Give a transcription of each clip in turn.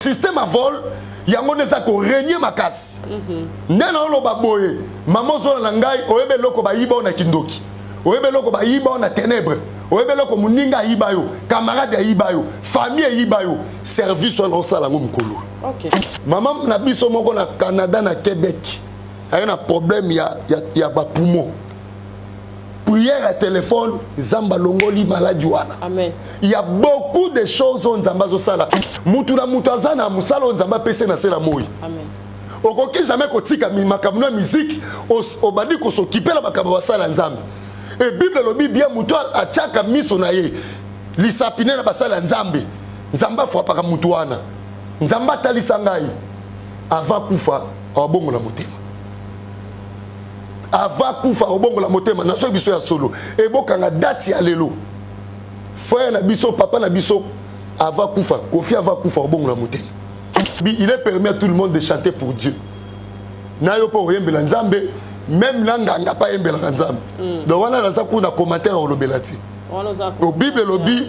système ya vol yango nde eza koregne makasi mhm. nde naoloba boye mama ozola na ngai oyebi eloko bayiba o na kindoki oyebi eloko bayiba o na ténèbre oyebi eloko moninga ayiba yo camarade ayiba yo famille eyiba yo service wana osala yango mokolo mama na biso moko na canada na québec aye na problème ya, ya, ya bapoumon prière ya telefone nzambe alongoli maladi wana ya beaucoup de choses oyo nzambe azosala mutu na mutu aza na mosala oyo nzambe apesi na se na moi okoki jamais kotika makambo na miziki obandi kosokipe na makambo basala nzambe e bible elobi bie motu atiaka miso na ye lisapine na basala ya nzambe nzambe afwapaka motu wana nzambe atalisa ngai avant kufa awabongo na motema ava kufa kobongola motema na soki biso ya solo ebokanga dati ya lelo frère na biso papa na biso ava kufa kofi ava kufa kobongola motema il est permis à tout le monde de chanter pour dieu na yo mpo oyembela nzambe meme na nganga mpe ayembelaka nzambe mm. donc wana naza kuna commentaire olobela te bible elobi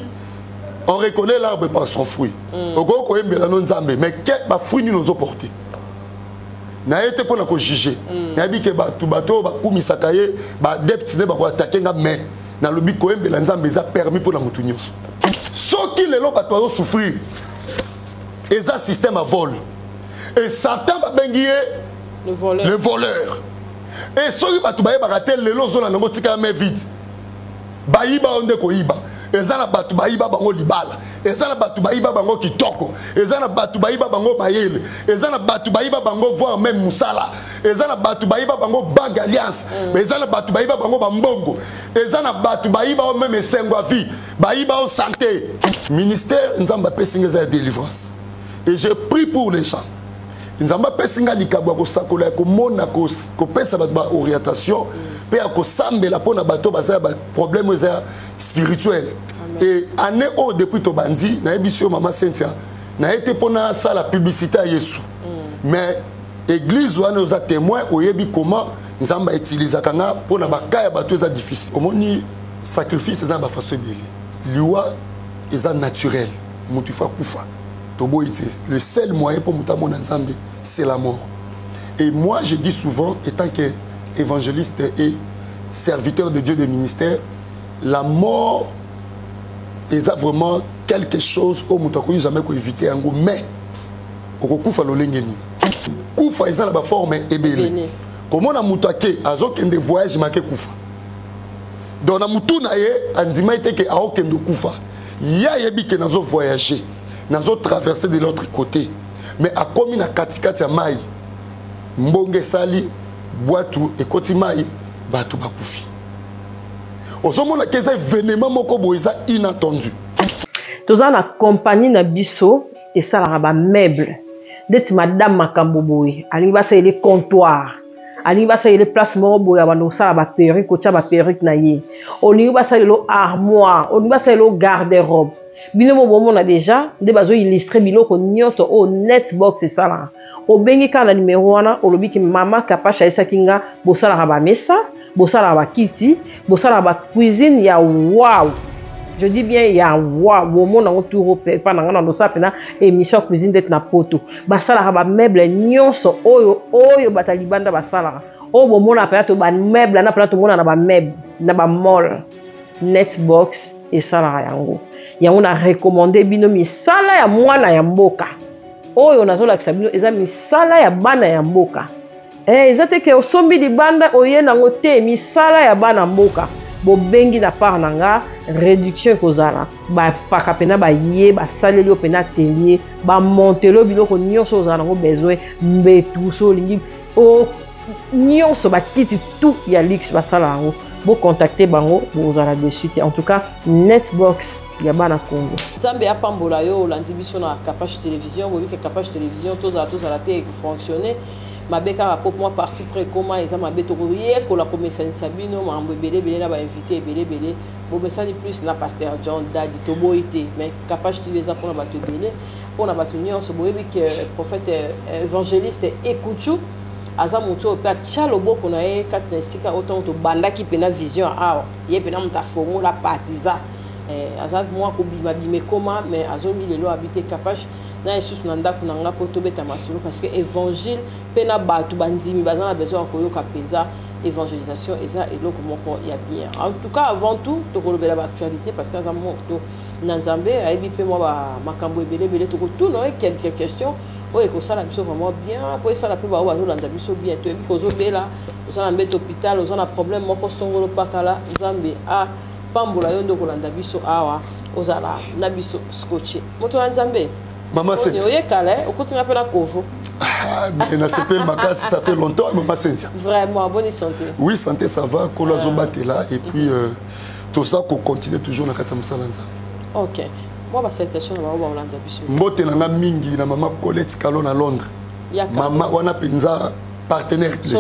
on reconnaît l'arbre par son fruit mm. okoki koyembela no nzambe mais bafruit nini ozoporte naye te mpo na kojuge mm. nayebi ke bato bato oyo bakumisaka ye baadepte nde bakoatake nga mai nalobi koyembela nzambe eza permis mpo na moto nyonso soki lelo bato azosouffrir eza système ya vol e satan babengi ye le voleur e soki bato bayebaka te lelo ozolanda yango tika ya mai vide bayiba oyo nde koyiba eza na bato bayiba bango libala eza na bato bayiba bango kitoko eza na bato bayiba bango mayele eza na bato bayiba bango voir meme mosala eza na bato bayiba bango bank alliance mm. eza na bato bayiba bango bambongo eza na bato bayiba o meme esengo ya vie bayiba o santé ministère nzambe apesi nga eza ya délivrance et je prie pour les gens nzambe apesi ngai likabo ya kosakola ya komona kopesa bato baorientation mpe ya kosambela mpo na bato baza ya baproblème oyo eza ya spirituel e année oyo depuis tobandi nayebisi yo mama cynthia naye te mpo nasala publicité ya yesu mm. mais église wana oza témoin oyebi comment nzambe autilisaka nga mpo na baka ya bato eza difficile omoni sacrifice eza na bafaso ebele liwa eza naturel moto ifo akufa toboyi te le seul moyen mpo moto amona nzambe c'est la mort et moi je dis souvent étant que évangéliste et serviteur de dieu de ministère la mort eza vraiment quelque chose oyo moto akoki jamais koévite yango mais okokufa lolenge nini kufa eza na baforme ebele komona moto ake azokende voyage make kufa donc na motu na ye andimaki te ke aokende kufa ye ayebi ke nazo voyage nazo traverse de l'autre côté mais akomi na katikati ya mai mbonge esali bwatu ekoti mai bato bakufi ozomona ke eza evenema moko boye eza inattendu toza na kompani na biso esalaka bameuble ndeti madame makambo boye alingi basalele comptoire alingi basalela place moko boye abanda kosala baperruque kotya baperruque na ye olingi basalela armoire olingi basalela garde robe bino mo bomona deja nde bazoillustre biloko nyonso oyo netbox esalaka obengi kaka na nimero wana olobi ki mama kapasha ayesaki nga bosalaka bamesa bosalaka bakiti bosalaka bacuisine ya wow je dis bien ya wa bomona yango turo epa na ngai na losala mpena émission ya cuisine ndeti na poto basalaka bameuble nyonso oyo oyo bato ya libanda basalaka oyo bomonaka mpena to bameuble na mpena tomona na bameuble na bamall netbox esalaka yango yango na recommande bino misala ya mwana ya mboka oyo nazolakisa bino eza misala ya bana ya mboka Eh, eza te ke osombi libanda oye nango te misala ya bana mboka bobengi na part na nga réduction ekozala bapaka mpena baye basaleli yo mpena atelier bamontelo biloko nyonso ozala nango besoin mbetu so olingi o nyonso bakiti tout ya luxe basala yango bocontacte bango bokozala dessus te en tout cas netbox ya bana congo nzambe apambola yo olandi biso na capache télévision boyebi ke capache télévision tozala tozala te ekofonctionne mabe kaka po mwa parti pre ekoma eza mabe tokoyekola komesanisa bino makambo ebele ebele na bainvité ebele ebele bomesani plus na pasteur john dadi toboyi te mais capage tv eza mpona bato ebele mpona bato nyonso boyebi ke euh, prophète euh, évangéliste ekuchu aza motu oyo mpe atya loboko na ye kati na esika oyo ntango tobandaki mpena vision awa ye mpena moto afongola partiza eh, aza mwa kobimabima ekoma mais azongi lelo abi te capage na lisusu na ndako na nga mpo tobeta masolo parce que évangile mpe na bato bandimi baza na besoin ya koyoka mpenza évangélisation eza eloko moko ya bien en tout cas avant tout tokolobela baactualité parce que aza moto na nzambe ayebi mpe mwa makambo ebele ebele tokotuna oye quelque question oyo ekosala biso vraiment bien mpo esala mpe baoyo bazolanda biso bien toyebi kozobela oza na mbete hôpital oza na problème moko songolo pakala nzambe a ah, pambola yo nde okolanda biso awa ozala na biso scotche moto ya nzambe mama senti oye kala eh? okoti nga mpe na kovo ah, mais na sepeli makasi ça fait longtemps mama sentia vraiment bonne santé oui santé ça va kolo azobatela ah. et puis euh, toza kocontinue toujours na kati ya mosala nzambe ok mwa basalutation na bango bakolanda biso mbote na nga mingi na mama colette kalo na londres mama wana mpenza partenaire clé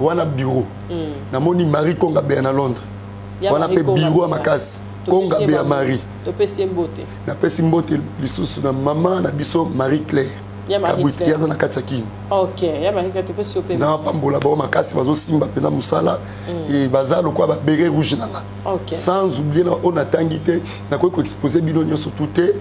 wana bureau hmm. namoni marie konga beya na londres wana mpe bureau ya makasi konga beya marie napesi mbote lisusu na mama na biso marie claire kabwiti ye aza na kati ya kini na bapambola bango makasi bazosimba mpenza mosala hmm. e baza lokola babere rouge na nga sans oublie na oyo natangi te nakoki koexpose bino nyonso tout te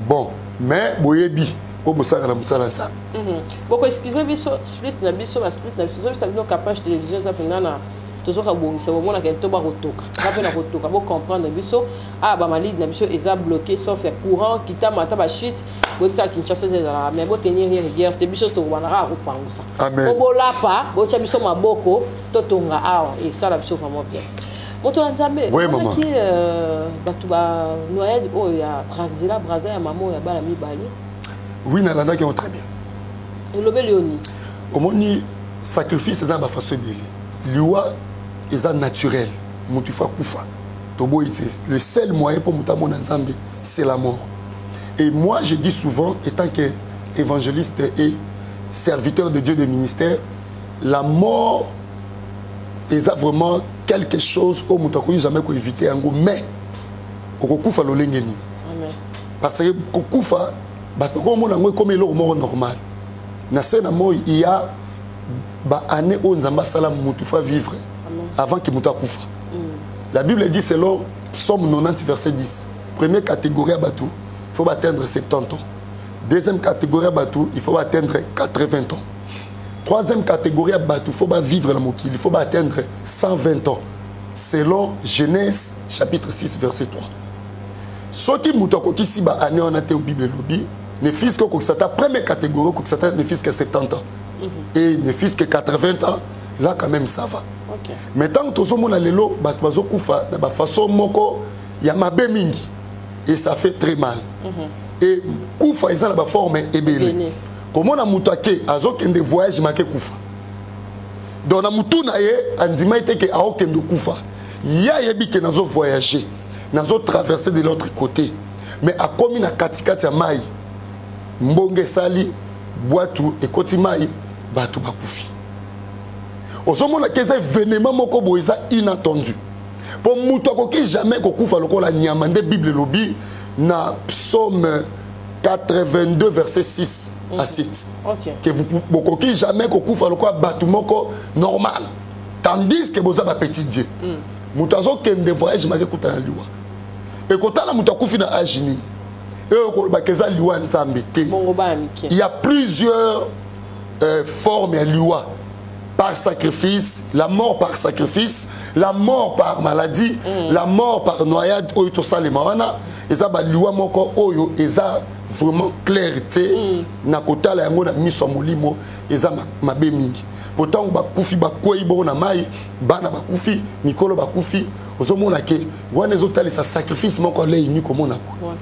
bon mais boyebi po bosaka na mosala ya nzambe mhm. boko excuse biso split na biso ba split na biso tozobisa bino capage télévision eza mpenza na tozoka bongisa bomonaka to bakotoka nga mpe na kotoka bocomprendre biso a ah, bamalide na biso eza bloqué sauf ya courant kitama ata bachute boyebi kaka kinshasa eza ezalaka mais botenir ye rigueur te biso tokobana kaka kopangusa po bolapa botya biso maboko totonga awa esala biso vraiment bien moto ya nzambe omonaki euh, bato ba noyade oyo ya nzela braza ya mama oyo ya bana mibale oui nalandaki yango très bien elobeli yo nini omoni sacrifice eza na bafaso ebele liwa eza naturel moto ifo akufa toboyi te le seul moyen mpo moto amona nzambe c'est la mort et moi je dis souvent étant que évangéliste et serviteur de dieu de ministère la mort eza vraiment quelque chose oyo moto akoki jamais koevite yango mais okokufa lolenge nini parce que kokufa bato bakomona yango ekomi eloko moko normal na se na moi iya baannée oyo nzambe asala motu fa vivre avant ke moto akufa mm. la bible dit selon somme 90 verset 10 première catégorie ya bato il faut baatteindre 70 ans deuxième catégorie ya bato il faut baatteindre 80 ans troisième catégorie ya bato faut bavivre na mokili faut baatteindre 120 ans selon genèse chapitre 6 verset 3 soki moto akokisi baannée wana te bible elobi ne fils que okokisa ata première catégorie okokisa ata ne fils que 70 ans mhm. et ne fils que 80 ans là quand même ça va okay. mais ntango tozomona lelo bato bazokufa na bafaçon moko ya mabe mingi et ça fait très mal mm -hmm. et kufa eza na baforme ebele komona moto ake azokende voyage make kufa donc na motu na ye andimai te ke aokende okufa ye ayebi ke nazo voyage nazo traverse de l'autre côté mais akomi na katikati ya mai mbonge esali bwatu ekoti mai bato bakufi ozomona ke eza evenema moko boye eza inattendu mpo moto akoki jamais kokufa lokola nyama nde bible elobi na psaume 82 verset 6 à 7 mhm. okay. que vous bokoki jamais kokufa lokola bato moko normal tandis que boza bapetit dieu mm. moto azokende voyage maki ekutana na liwa ekotala moto akufi na age nini eyo kolobaka eza liwa ya nzambe te ya plusieurs euh, forme ya liwa par sacrifice, la mort par sacrifice, la mort par maladie, mm. la mort par noyade, oyo to salema wana, eza ba liwa moko oyo eza vraiment clair te mm. na kotala yango na miso ya molimo eza mabe mingi potango bakufi bakwei bongo na mai bana bakufi mikolo bakufi ozomona ke wana ezotalisa sacrifice moko aleini komona po ouais.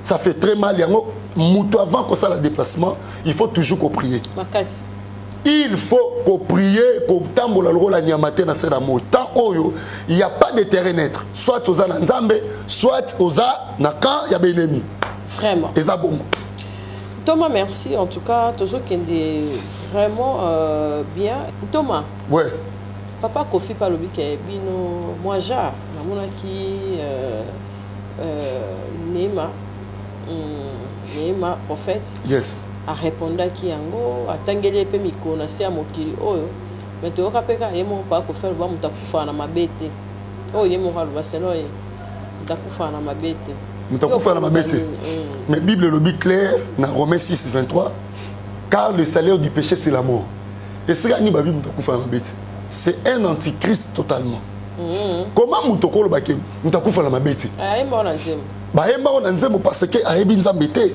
ça fait très mal yango moto avant kosala déplacement il faut toujours koprier makasi il faut koprier kotambola lokola nyama te na se na moi temps oyo il y a pas de terrain neutre soit oza na nzambe soit oza na camp ya baennemi vraiment eza bongo Thomas, merci. En tout cas, Tozo Kende, vraiment euh, bien. Thomas. Ouais. Papa Kofi Palobi Bino, moi, j'ai, qui. Euh, euh, Neema hmm, Neema prophète yes arépondaki yango atangeli ye mpe mikolo na se ya mokili oyo me toyoka mpe kaka ye moko mpaka kofela loba moto akufaka na mabe te oyo ye moko aloba selo ye moto akufaka na mabe te moto akufaka na mabe te hmm. mais bible elobi claire na romain 6 23 car le salaire du péché c'est la mort esika nini babi moto akufaka na mabe te c'est un antichrist totalement mm -hmm. comment moto okolobake moto akufa na mabe ti bayembako na nzembo parce que ayebi nzambe te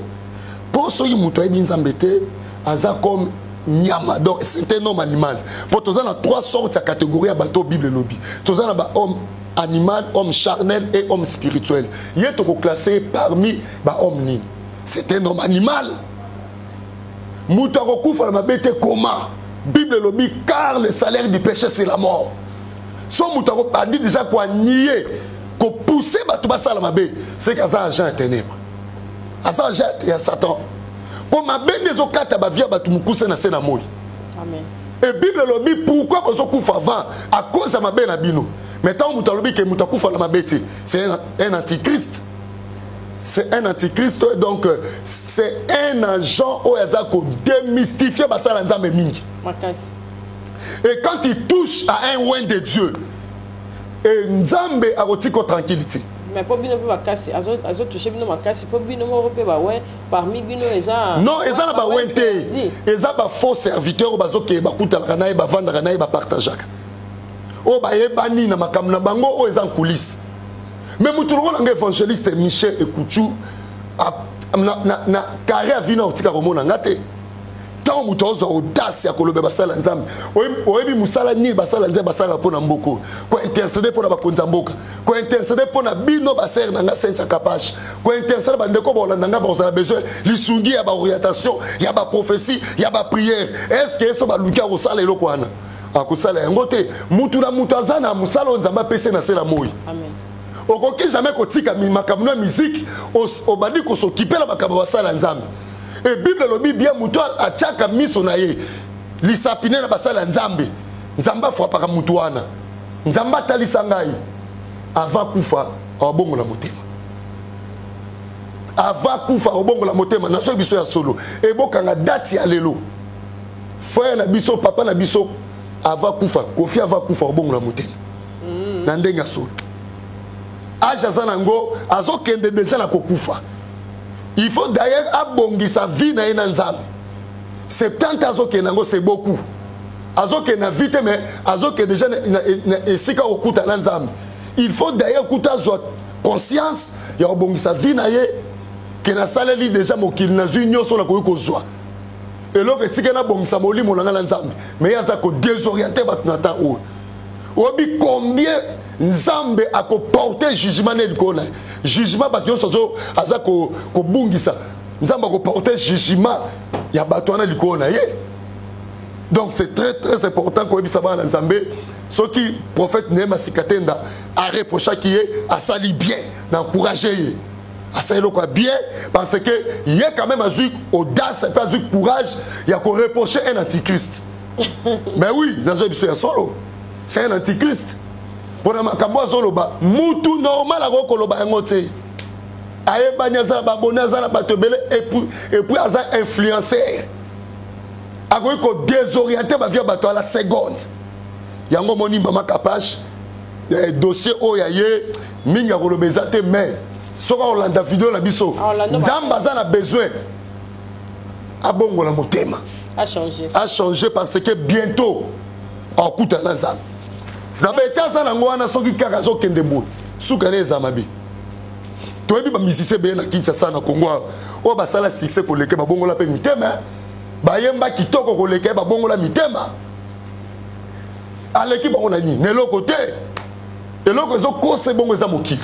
mpo soki moto ayebi nzambe te aza comme nyama donc c'est un homme animal mpo toza na trois sortes ya catégorie ya bato bible elobi toza na bahomme animal homme charnel et homme spirituel ye tokoclasse parmi bahomme nini c'est un homme animal moto akokufa na mabe te koma bible elobi car le salaire du péché c'est la mort so moto akobandi deja koanie kopousse bato basala mabe seke aza agent ya ténèbre aza agent ya satan mpo mabe nde ezokata bavie ya bato mokuse na se na moi e bible elobi pourkui bozokufa avant akoz ya mabe na bino mai ntango moto alobi ke moto akufa na mabe te c'est un antichrist c'est un antichrist donc euh, c'est un agent oyo aza kodémystifie basala nzambe mingi Makasi. et quand il touche à un oin de dieu et nzambe akotika tranquille te mais mpo bino mpe makasi azotouche bino makasi mpo bino moko mpe bawe parmi bino eza non eza na bawe te eza bafaux serviteur oyo bazokeye bakutanaka na ye bavandaka na ye bapartageaka oyo bayebani na makambo na bango oyo eza nkulise me moto lokola nga évangéliste michel ekuchu na carré ya vino akotika komona nga te ntango moto azwa audace ya koloba basala ya nzambe oyebi mosala nini basala ya nzambe basalaka mpo na mboka oyo kointercede mpo na bakonzi ya mboka kointercede mpo na bino basere na ngai sencha kapash kointercede bandeko baolanda ngai bakozala besoin lisungi ya baorientation ya baprophesie ya bapriere estce yeso baluki akosala eloko wana akosala yango te motu na motu aza na mosala oyo nzambe apesi na se na moi okoki jamai kotika makambo na miziki obandi kosokipe na makambo basala nzambe e bible elobi bien moto atiaka miso na ye lisapine na basali ya nzambe nzambe afwapaka moto wana nzambe atalisa ngai avant kufa awabongola motema avant kufa awabongola motema na soki biso ya solo ebokanga dati ya lelo frère na biso papa na biso avant kufa kofi avant kufa awabongola motema mm. na ndenge ya solo age aza na yango azokende deja na kokufa il faut d'ailleurs abongisa vie na ye na nzambe 70 azokende yango c'est beaucoup azokende na vie te mais azokende déjà na esika kokuta na nzambe il faut d'ailleurs kuta azwa conscience ya kobongisa vie na ye ke nasaleli déjà mokili nazwi nyonso nakoki kozwa eloko etika nabongisa molimo na ngai na nzambe mais ye aza kodesoriente bato na ntan oyo oyebi combien nzambe akoporte jugement ne likolo na ye jugement bato nyonso aza kobungisa ko nzambe akoporte jugement ya bato wana likolo na ye donc c'est très très important koyebisa bana na nzambe soki prophète neema sikatenda areprochaki ye asali bien na encourage ye asali eloko ya bien parce que ye quand même azwi audace mpe azwi courage ya koreproche un antichrist mais oui nazoyi biso ya solo c'est un antichrist mpo na makambo azoloba mutu normal akoki koloba yango te ayebani aza na baboni aza na bato ebele epuis aza influencer akoki kodesoriente bavi ya bato ala seconde yango omoni mama kapash eh, dossier oyo ya ye mingi akoloba eza te mais soki akolanda video na biso nzambe aza na besoin abongola motema achange parce que bientôt akutana na nzambe na bete aza nango wana soki kaka azokende boye suka ne eza mabe toyebi bamisisi ebele na kinshasa na congo awa oyo basala succès koleke babongola mpe mitema bayemba kitoko koleka ye babongola mitema aleki bango na nini na eloko te eloko ezokosa ebongo eza mokili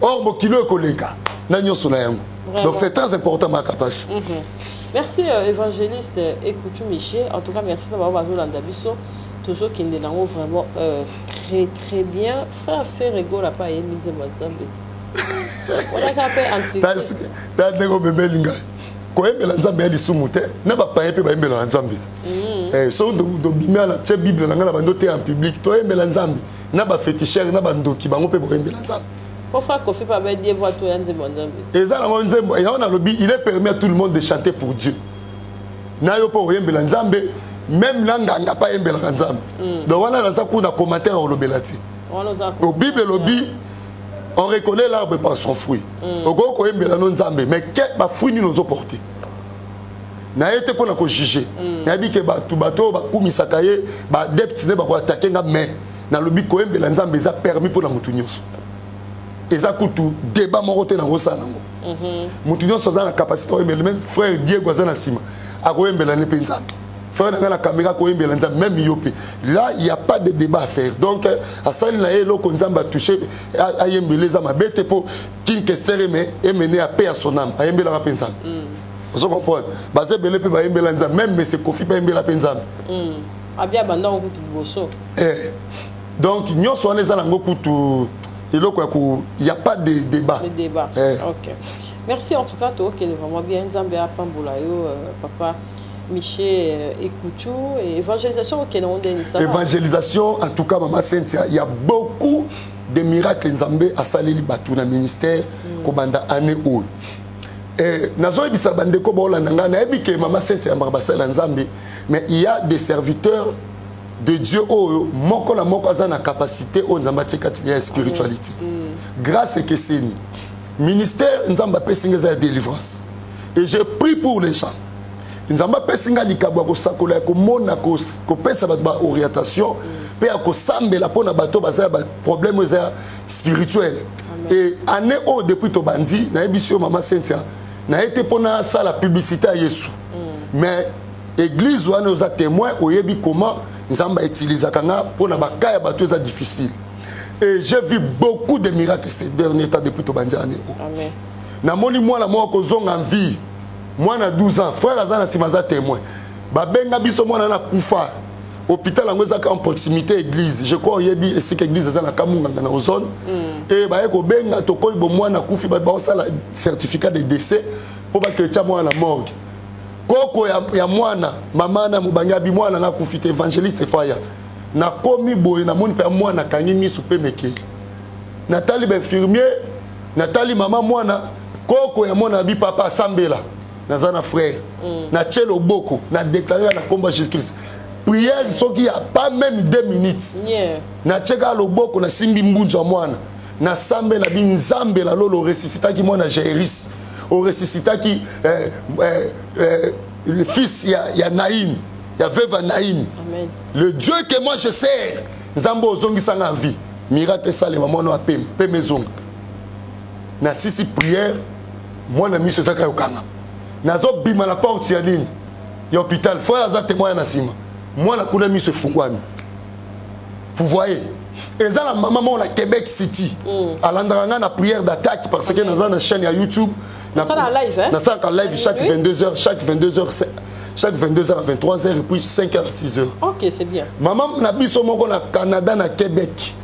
or bokilo ekoleka na nyonso na yango donc c'est très important makapashe mm -hmm. merci euh, évangéliste ekutu michel en tout cas merci na bango bazolanda biso tozokende nango vraiment euh, très très bien frère ferre egola mpe ayembi nzembo ya nzambe olaka mpe antitaa ndenge obebeli ngai koyembela nzambe ya lisumu te na bapaye mpe bayembelaka nzambe mm. eh, so dobimi ala tie bible na ngai na bando te en public toyembela nzambe na ba fetisher na ba ndoki bango pe boyembela nzambe Pourquoi Kofi pas bien Dieu voit tout yanze mon Dieu Et ça la mon Dieu, et on a le il est permis à tout le monde de chanter pour Dieu. Na yo pour yembe la Nzambe, même là nganga pas yembe la Nzambe. Hmm. Donc voilà la ça qu'on a commenté au lobelati. Au Bible lobby on reconnaît l'arbre par son fruit. Hmm. Au go ko yembe la Nzambe, mais quel ba fruit nous nous porté. naye te mpo na kojuge mm. nayebi ke bato bato oyo bakumisaka ye baadepte nde bakoatake nga mai nalobi koyembela nzambe eza permis mpo na moto nyonso eza kutu deba moko te nango osala nango mhm. moto nyonso aza na capacité oyembela meme frère diego aza na nsima akoyembela ne mpe nzambe frère na ngai na kamera akoyembela nzambe meme yo mpe là il y a pas de débat à faire donc asali na ye eloko nzambe atouche ayembela eza mabe te mpo king kester eme emene ya paix à son âme ayembelaka mpe nzambe mm. ozo comprendre baza ebele mpe bayembela nzambe même mese kofi mpe ayembela mpe nzambe mm. abia banda okutu liboso eh. donc nyonso wana eza nango kutu eloko ya ko ya pas de débat le débat eh. ok merci en tout cas tookende vraiment bien nzambe apambola yo euh, papa miche euh, ekuchu evangelisation okende ngo ndeni sa evangelisation en tout cas mama sentia ya beaucoup des miracles nzambe asaleli bato na ministère mm. kobanda année oyo eh, nazoyebisa bandeko baolanda ngai nayebi ke mama sainte yambaka basali ya nzambe mais il y a des serviteurs de dieu oyo moko na moko aza na capacité oyo nzambe atie kati ya spiritualité mm. mm. grâce ekeseni ministère nzambe apesi ngai eza ya délivrance et je prie pour les gens nzambe apesi ngai likabo ya kosakola ya komona kopesa bato baorientation mpe ya kosambela mpo na bato baza ya baproblème oyo eza ya spirituel e année oyo depuis tobandi nayebisi yo mama cynthia naye te mpo nasala publicité ya yesu mm. mais église wana oza témoin oyebi comment nzambe autilisaka nga mpo na baka ya bato eza difficile et j'ai vu beaucoup de miracles ces derniers temps depuis tobandi année oyo namoni mwana moko kozonga vie mwana 12 ans frère aza na sima aza témoin babenga biso mwana na kufa hôpital yango ezaka en proximité église je crois oyebi esika église eza na kamunganga na ozone mm. e baye kobenga tokoyi bomwana akufi baosala certificat de décès mpo bakretya mwana na morgue koko ya, ya mwana mama na mobange abi mwana nga akufi te évangéliste faya nakomi boye namoni mpe ya mwana akangi miso mpe mekeli natali bainfirmier natali mama mwana koko ya mwana bi papa asambela naza na frère mm. na tie loboko na déclare na nkombo ya jésus christ prière soki ya pas même deux minutes yeah. na tie kaka loboko nasimbi mbunzu ya mwana nasambela bi nzambe na lolo oresisitaki mwana jairis oresisitaki eh, eh, eh, le fils ya, ya naïm ya veuve naïm le dieu que moi je sers nzambe ozongisanga vie miracle esalema mwana wa pema pema ezonga na sisi prière mwana miso eza kaka yokanga nazobima na porte ya nini ya hôpital frère aza témoin na nsima mwana kuna miso efungwami vous voyez eza na mama moko na québec city mm. alandaka ngai na prière d'attaque parce que naza na chaîne ya youtube nasalaka live chaque 22 heures chaque 22 heures chaque 22h à 23h et puis 5h à 6h. Ok, c'est bien. Maman, na biso moko na Canada, na Québec.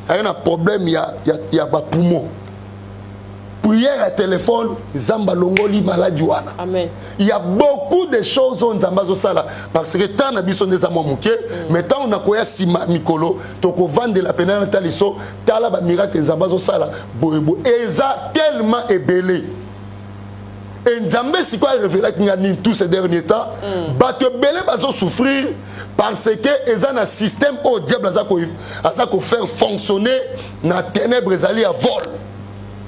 aye na problème ya, ya, ya bapoumon prière ya telefone nzambe alongoli maladi wana ya beaucoup de choses oyo nzambe azosala parce que temps na biso nde eza mwa moke mm. mais ntango nakoya nsima mikolo tokovandela mpena na taliso tala bamiracle nzambe azosala boyeboye eza tellement ebele e nzambe sikoyo arevelaki nga nini tous ces derniers temps mm. bato ebele bazosouffrir parce que eza na système oyo diable aza ko aza ko faire fonctionner na ténèbres ezali ya vol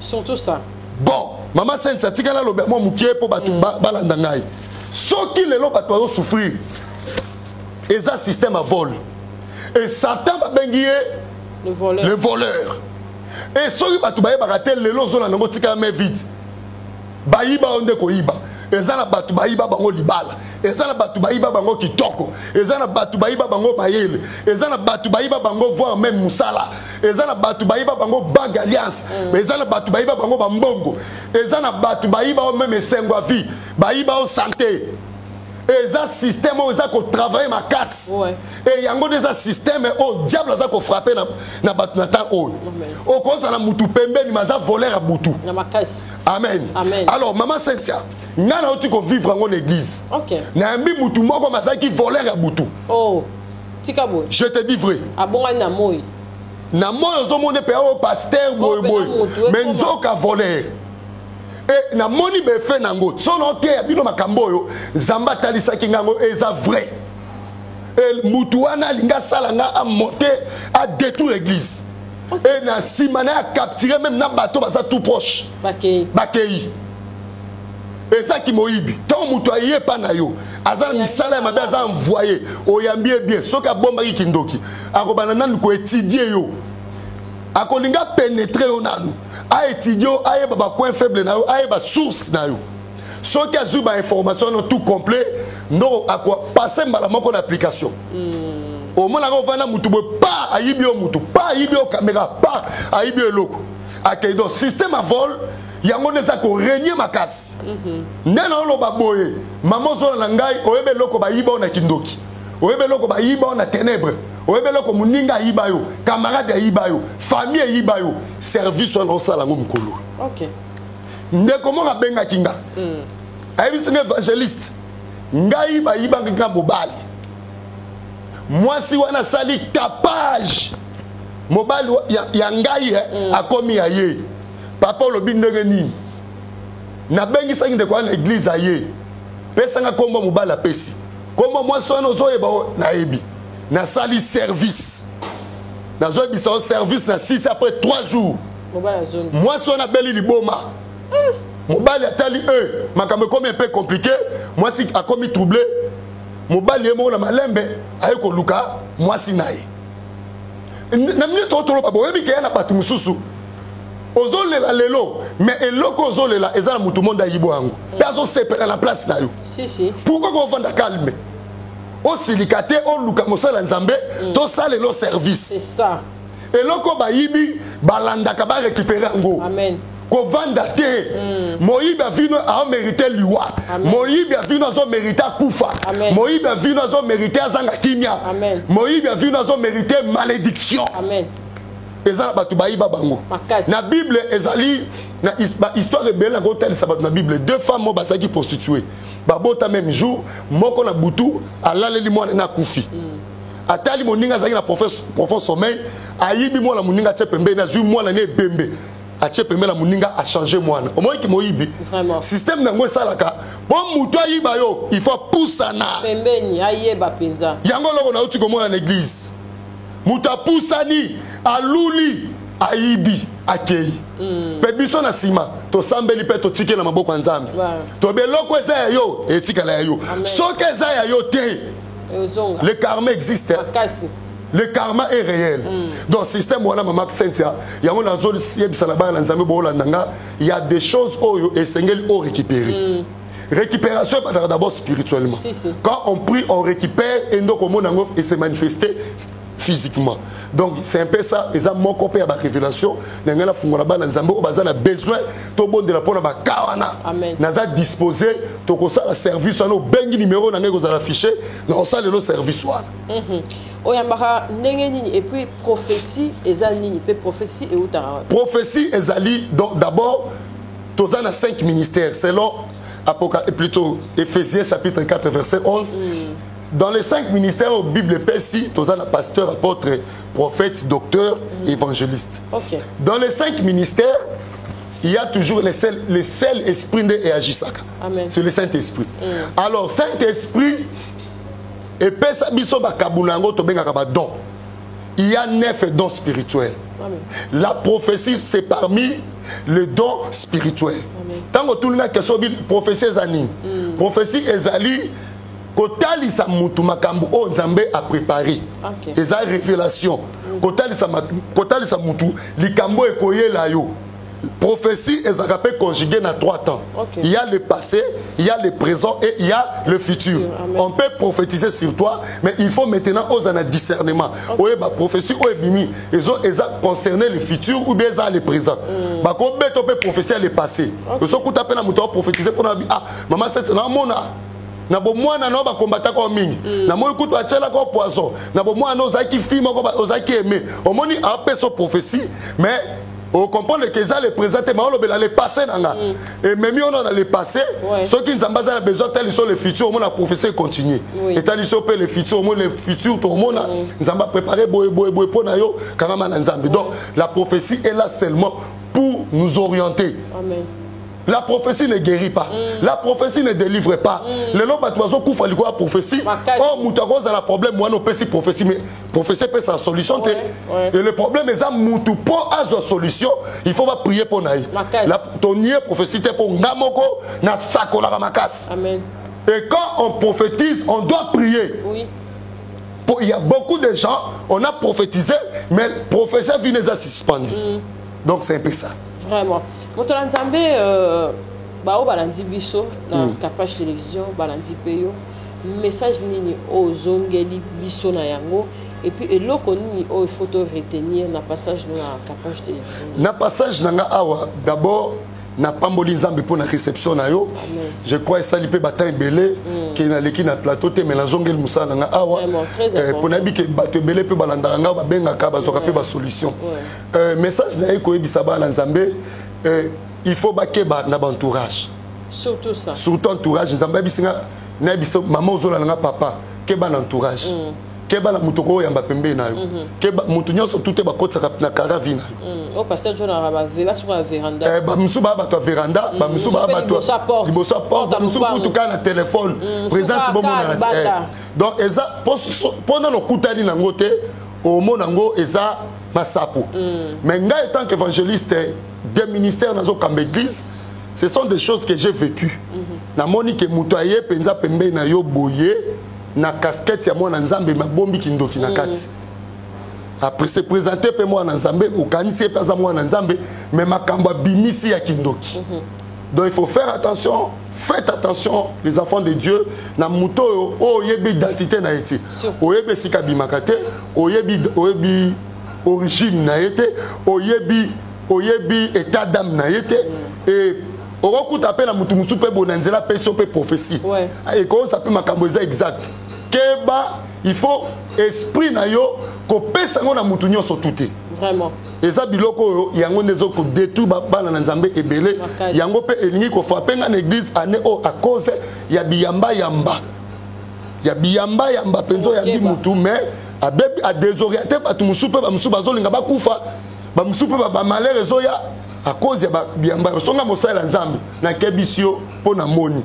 surtout ça bon mama sainte atika naloba mwa mokie mpo bato mm. balanda ngai soki lelo bato azosouffrir eza système ya vol e satan babengi ye le voleur, le voleur. e soki bato bayebaka te lelo ozolanda yango tika ya mai vide bayiba oyo nde koyiba eza na bato bayiba bango libala eza na bato bayiba bango kitoko eza na bato bayiba bango mayele eza na bato bayiba bango voir meme mosala eza na bato bayiba bango bank alliance mm. eza na bato bayiba bango bambongo eza na bato bayiba o meme esengo ya vie bayiba o sante eza système oyo eza kotravaille makasi e yango nde eza système oyo diable aza kofrappe na bato na ntango oyo okozala motu pembeni maza voleur ya butu amen, amen. alors mama cynthia ngai nauti kovivre yango na église okay. nayambi mutu moko mazalaki voler ya butu oh. tika boye je te dis vrai abongani na moi na moi ozomona mpe oyo paster boyeboye me nzoka voler e namoni befe na yango so naoteya bino makambo oyo nzambe atalisaki ngai yango eza vrai e motu wana alingi asala ngai amonte adétruire église e na nsima na ya capture meme na bato baza tout proche bakei eza kimoyibi ntango moto aye epa na yo aza na misala ya mabe aza envoye oyambi ye bien soki abombaki kindoki akobanda nanu koetidie yo akolinga penetre yo nanu aetidie yo ayeba bacoin faible na yo ayeba source na yo soki azwi ba information no tout complet ndoko akwa passe mbala moko na application mm. omonaka ovanda motu boye pa ayibi yo motu pa ayibi yo kamera pa ayibi yo eloko akei donc système a vol yango nde eza koregne makasi mm -hmm. nde naoloba boye mama ozola na ngai oyeba eloko bayiba yo na kindoki oyeba eloko bayiba yo na ténèbre oyeba eloko moninga ayiba yo camarade ayiba yo famille eyiba yo service wana osala yango mokolo okay. ndeko moko abengaki nga mm. ayebisi nga évangéliste ngai bayibaki nga mobali mwasi wana asali tapage mobali ya, ya ngai eh, mm. akomi ya ye papa olobi ndenge nini nabengisaki ndeko wana na eglize aye pesanga nkombo mobali apesi nkombo mwasi wana ozoyeba nayebi nasali service nazoyebisa yo service na 6 après 3 jours mwasi wana abeli liboma hmm. mobali atali e makambo ekomi mpe komplike mwasi akomi trouble mobali ye moko na malembe aye koluka mwasi na ye na mine toko toloba boyebi keya na bato mosusu ozolela lelo mais eloko ozolela eza na motu monde ayibo yango mpe azosepela na place na yo pourkoi kovanda calme osilika te oluka mosala nzambe mm. tosalela service eloko bayibi balandaka barekipere yango kovanda te mm. moyibi ya vino aomerite liwa moyibi ya vino azomerite akufa moyibi ya vino azomerite azanga kimia moyibi ya vino azomerite malédiction Amen. eza na bato bayiba bango na bible ezali na bahistoire ebele na kotalisa bato na bible deux femmes oyo bazalaki prostitue babota même jour moko na butu alaleli mwana na akufi mm. atali moninga azalaki na profond sommeil ayibi mwana moninga atie pembeni azwi mwana ne ebembe atie pembeni na moninga achange mwana omoni ki moyibi systeme yango esalaka mpo motu ayiba yo il faut apusana pembeni ayeba mpenza yango eloko nauti komona na eglize moto apusani aluli ayibi akei hmm. mpe biso na nsima tosambeli mpe totiki na maboko ya nzambe tobe eloko eza ya yo etikala ya yo soki eza ya yo te le karma existe hein? le karma est réel mm. donc système wana mama cynthia yango nazoyebisa na bana na nzambe boolanda nga ya des choses oyo esengeli o récupérer mm. récupération ebandaka d'abord spirituellement si, si. quand on prie on récupère et ndoko omona yango et se manifeste physiquement donc c'est un peu ça eza moko mpe ya barévélation na ngai nafungola bana nzambe oyo baza na besoin tobondela mpo na baka wana naza disposé tokosala service wana obengi numero na ngai ekozala affiché nakosala lelo service wana mhm. oyambaka ndenge nini et puis prophétie eza nini mpe prophétie eutaka prophétie ezali donc d'abord toza na 5 ministères selon Apoca, plutôt Ephésiens chapitre 4 verset 11 mm. dans les cinq ministères oyo bible epesi toza na pasteur apôtre prophète docteur mm. évangéliste okay. dans les cinq ministères il y a toujours le seul, le seul esprit nde eagisaka c'est le saint esprit mm. alors saint esprit epesa biso bakabo na yango tobengaka badon il y a neuf dons spirituels Amen. la prophétie c'est parmi les dons spirituels ntango otuni na question prophétie eza nini mm. prophétie ezali kotalisa mutu makambo oyo nzambe aprepare okay. eza révélation kotalisa, kotalisa mutu likambo ekoyela yo prophétie ezalaka mpe conjugué na trois temps okay. il y a le passé il y a le présent et il y a le futur Amen. on peut prophétiser sur toi mais il faut maintenant oza na discernement okay. oyeba prophétie oyo ebimi eza concerné le futur ou bien eza le présent mm. bakobeta mpe prophétie ya le passé okay. ozokuta mpe na moto aprophétise mpona ah mama sete namona na bomwana na yo bakombataka yo mingi mm. namoni kutu atyelaka yo poison na bomwana na ozalaki fi moko ozalaki aime omoni apesa prophétie mais ocomprendre ke eza le présent te maolobela le passé na nga mm. ememi yo na le passé soki nzambe aza na besoin atali so le futur omona prophétie econtinue etali so mpe le futur omoni le futur tokomona mm. nzambe aprépare boye boye boye mpo na yo kangama na nzambe donc la prophétie est là seulement pour nous orienter Amen. la prophétie ne guérit pas mm. la prophétie ne délivre pas mm. lelo bato bazokufa likolo ya prophétie oyo oh, moto akozala problème wana opesi prophétie mais prophétie epesa solution te et le problème eza motu mpo azwa solution il faut baprie mpo na ye tonie prophétie te mpo nga moko nasakolaka makasi et quand on prophétise on doit prier oui. il y a beaucoup de gens on a prophétisé mais prophétie vine eza suspendu mm. donc c'est un peu ça vraiment moto na nzambe euh, baoyo balandi biso na mm. capage télévision balandi mpe yo message nini oyo ozongeli biso na yango epuis eloko nini oyo faut to retenir na passage no na capage télévision na passage na nga awa d'abord napamboli nzambe mpo na réception na yo je crois esali mpe batemp ebele mm. ke naleki na plateau te mai nazongeli mosala na ngai awa mpo eh, nayebi ke bato ebele mpe balandaka ngai babengaka bazwaka mpe basolution euh, message na ye koyebisa bana nzambe euh, il faut bakeba na baentourage surtout ça surtout entourage nzambe ayebisi nga nayebisa mama ozolala nga papa keba na entourage mm. keba na moto okoyamba pembeni na yo mm -hmm. keba moto nyonso tute bakotisaka na kara vi na yo mm. oh, eh, bamosusu baa bato ya veranda mm. bamosusu baa bato liboso ya porte bamosusu kutu kaka na telefone mm. présence bomonana te eh. donc eza mpo nano okutani nango te omona yango eza masapo mm. mais ngai etant qu'évangéliste des ministères nazokamba église ce sont des choses que j'ai vécu mm -hmm. namoni ke moto aye mpenza pembei na yo boye na casquette ya mwana nzambe mabombi kindoki na mm. kati mm. après se présente mpe mwana nzambe okanisi ye mpe aza mwana nzambe mais makambo abimisi ya kindoki mm -hmm. donc il faut faire attention faites attention les enfants de dieu na moto oyo oyebi identité na ye te oyebi esika abimaka te oyebi oyebi origine na ye te oyebi oyebi état d'âme na ye te mm. et okokuta mpe na motu mosusu mpe boye na nzela mpe so mpe prophétie ekoyosa mpe makambo eza exact keba il faut esprit na yo kopesa yango na motu nyonso tu te Vraiment. eza biloko oyo yango nde ezokodétruire bana na nzambe ebele yango mpe elingi kofrape ngai na église année oyo à cause ya biyambayamba ya biyamba yamba mpenza oyambi mutu mais abebi adesoriente bato mosusu mpe bamosusu bazolinga bakufa bamosusu mpe bamalere ezoya a cause ya biyamba songa mosala ya nzambe nakebisi yo mpo namoni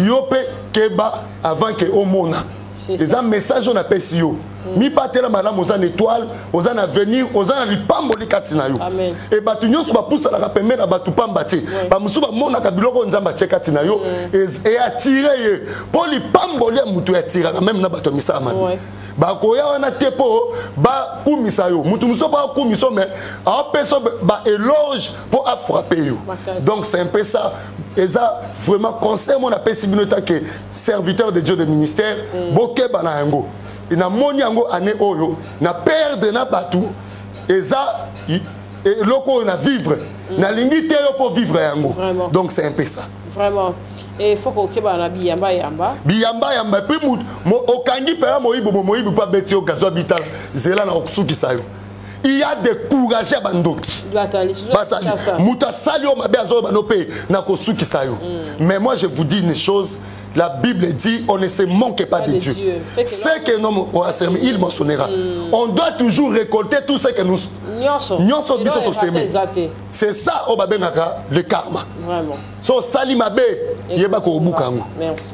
yo mpe keba avant ke omona eza message oyo napesi yo Mm. mibatela malamu oza na étoile oza na avenir oza na lipamboli kati na yo e bato nyonso bapusanaka pembe na bato pamba te bamosusu bamonaka biloko oyo nzambe atie kati na yo mm. eatire ye mpo lipamboli ya moto eatiraka meme na bato ya misala mabe bakoya wana te mpo bakumisa yo moto mosusu mpo akumisa yo mais aopesa baéloge mpo afrappe yo donc c'est un peu ça eza vraiment conseil mo napesi bino etake serviteur de dieu de ministère mm. bokeba na yango et na moni yango année oyo na perdre na batu eza eloko oyo na vivre mm. nalingi te yo mpo vivre yango donc c'est un peu ça vraiment il faut kokeba na biyamba yamba biyamba yamba epuis okangi mpela moyibi bo moyibi mpo abeti yo gazo abitala zela na kosukisa yo il y a des courageux bandoki basali moto asali yo mabe azoyeba no mpe na kosukisa yo mm. mais moi je vous dis une chose La Bible dit on ne se manque pas, pas de, de Dieu. Dieu. C'est que l'homme aura semé, il moissonnera. Mm. On doit toujours récolter tout ce que nous nyonso biso tosemi. C'est ça oyo babengaka le karma. Vraiment. So sali mabe yeba ko obuka yango.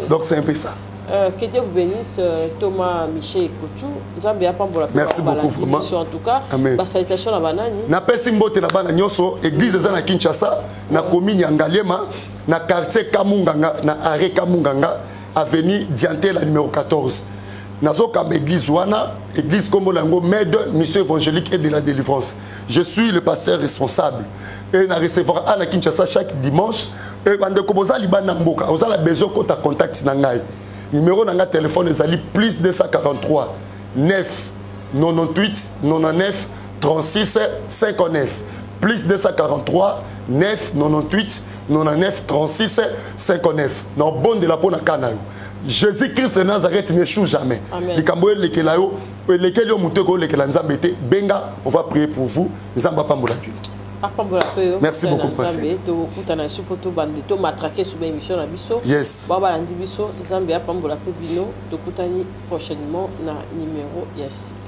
Donc c'est un peu ça. Euh, que Dieu vous bénisse, euh, Thomas, Michel et Koutou. Nzambe ya pambola Merci beaucoup vraiment. En tout cas, Amen. ba salutation na banani. Na pesi mbote na bana nyoso, église eza na Kinshasa, na commune ya Ngaliema. na quartier kamunganga na arrêt kamunganga avenue diantela numéro 14 nazokamba église wana église nkombo na yango mede mission évangélique et de la délivrance je suis le pasteur responsable e na recevoir a na kinshasa chaque dimanche e bandeko boza libanda na mboka oza na besoin okota contact na ngai numéro na ngai telefone ezali plus 243 9 98 99 36 59 plus 243 9 98 99 36 59 na obondela mpo na ka na yo jésus christ de nazareth ne chou jamais likambo oyo elekela yo elekeli yo moto ekoyolekela nzambe te benga on va prier pour vous nzambe apambola bino apambola mpe yo merci beaucoup nzambe tokutana lisusu mpo tobandi tomatrake suba émission na biso yes bao balandi biso nzambe apambola mpe bino tokutani prochainement na numero ya site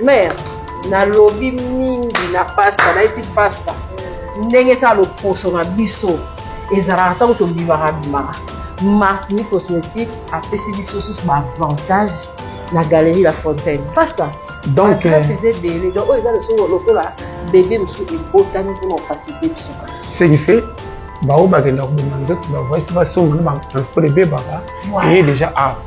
mère nalobi mingi na pasta nayesi pasta ndenge kaka loposo na biso ezalaka ntango tobimaka bimaka martini cosmétique apesi biso susu baavantage na galerie la fontaine pasta donc place eza ebele donc oyo eza lesomo lokola bebe mosusu ebotami mpona ofasite biso ce qui fait baoyo bakenda kobima nzoto bavoyage mpe basonga na batransport ebebaka eye déjà awa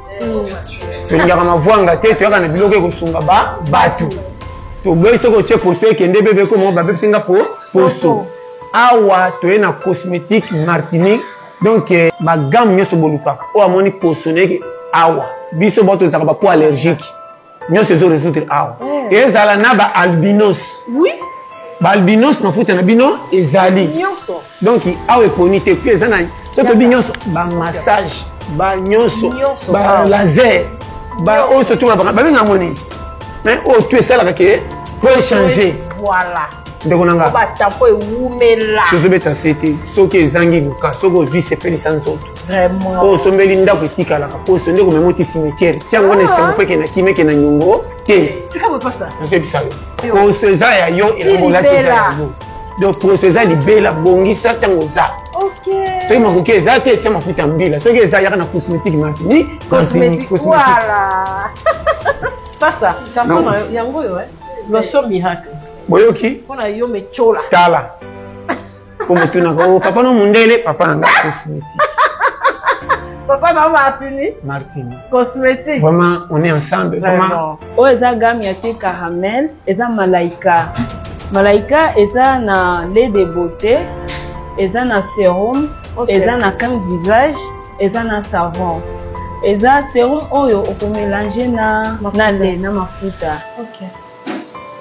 tolingaka mavwanga te toyaka na biloko ekosunga ba bato toboyi soki otie poso ekende bebe ekoma babebisi nga po poso awa toye na cosmétique martinique donc eh, bagamme nyonso bolukaka oyo amoni poso neke awa biso bato ezalaka bapo allergique nyonso ezo résoudre awa eh. ezala na ba albinos oui ba albinos mafuta na bino ezali nyonso donc awa eponi te puis eza na soki tobi nyonso ba massage ba nyonso ba laser ba oyo surtout na babi na moni mais oyo tu esalaka ke po échanger voilà ndeko na nga ba tapo ewumela tozobeta se te soki ezangi luka soki ozwi sepelisa nzoto vraiment oyo osombeli ndako etikalaka poso nde komema oti cimetière tia yango na esengo mpe kena kime kena nyongo te nazoyebisa yo poso eza ya yo ekolati eza ya yo donc poso eza libela bongisa ntango oza soki makoki eza te tia mafuta ya mbila soki eza yaka na cosmétique mafini cosmétique pasta carton yango oyo eh? loso miracle boyoki mpo na yo mecola tala po motunaka o oh, papa no mundele papa na ngai cosmétique papa na martini martini cosmétique vraiment on est ensemble vraiment oyo oh, eza gamme ya te caramel eza malaika malaika eza na lait de beauté eza na serum okay. eza na crème visage eza na savon eza serum oyo okomelange na, na lait na mafuta okay.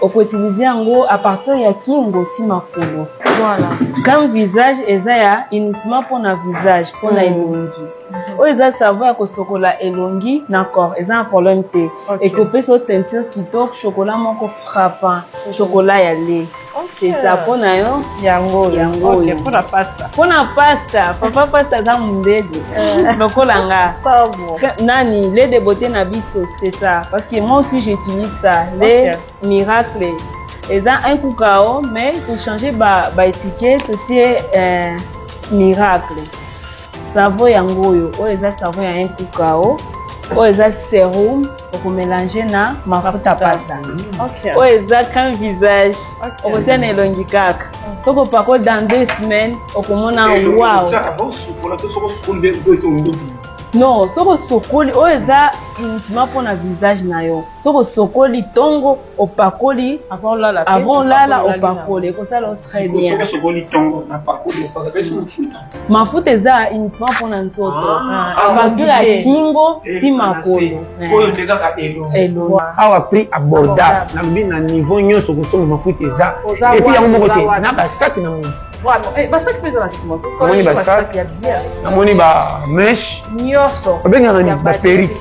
oko utiliser yango à partir ya kingo ti makolo voilà. comme visage eza ya uniquement mpona visage mpona mm. elongi mhm. oyo eza savo ya kosokola elongi na corps eza na problème te okay. ekopesa o teinture kitoko chocolat moko frappant okay. chocolat ya lait Okay. Pizza mpo na yo yango yango okay. mpo na pasta mpo na pasta papa pasta aza mondede eh. lokola nga nani le de beauté na biso c'est ça parce que moi aussi j'utilise ça le okay. miracle eza un kukao mais tochange baétiquet ba totie euh, miracle savo yango oyo oyo eza savo ya un kukao oyo eza serum okomelange na mafuta pasta oyo eza crème visage okotia na elongi kaka tokopako dans deux semaines okomona wow non soki osokoli oyo eza uniquement mpona visage na yo soki osokoli ntongo opakoli avant olala avant olala opakoli ekosala yo très bien sokosokoli ntongo na pakoli opakapesi mafuta mafuta eza uniquement mpo na nzoto apatir ah, ah, ah, ya kingo ti makolo oyo nde kaka elongo awa prix abordable nalobi na niveau nyonso kosomba mafuta eza epuis yango moko te na basaki na moto basaki mpe eza na nsima namoni basaki namoni bameshe nyonso babengaka baperike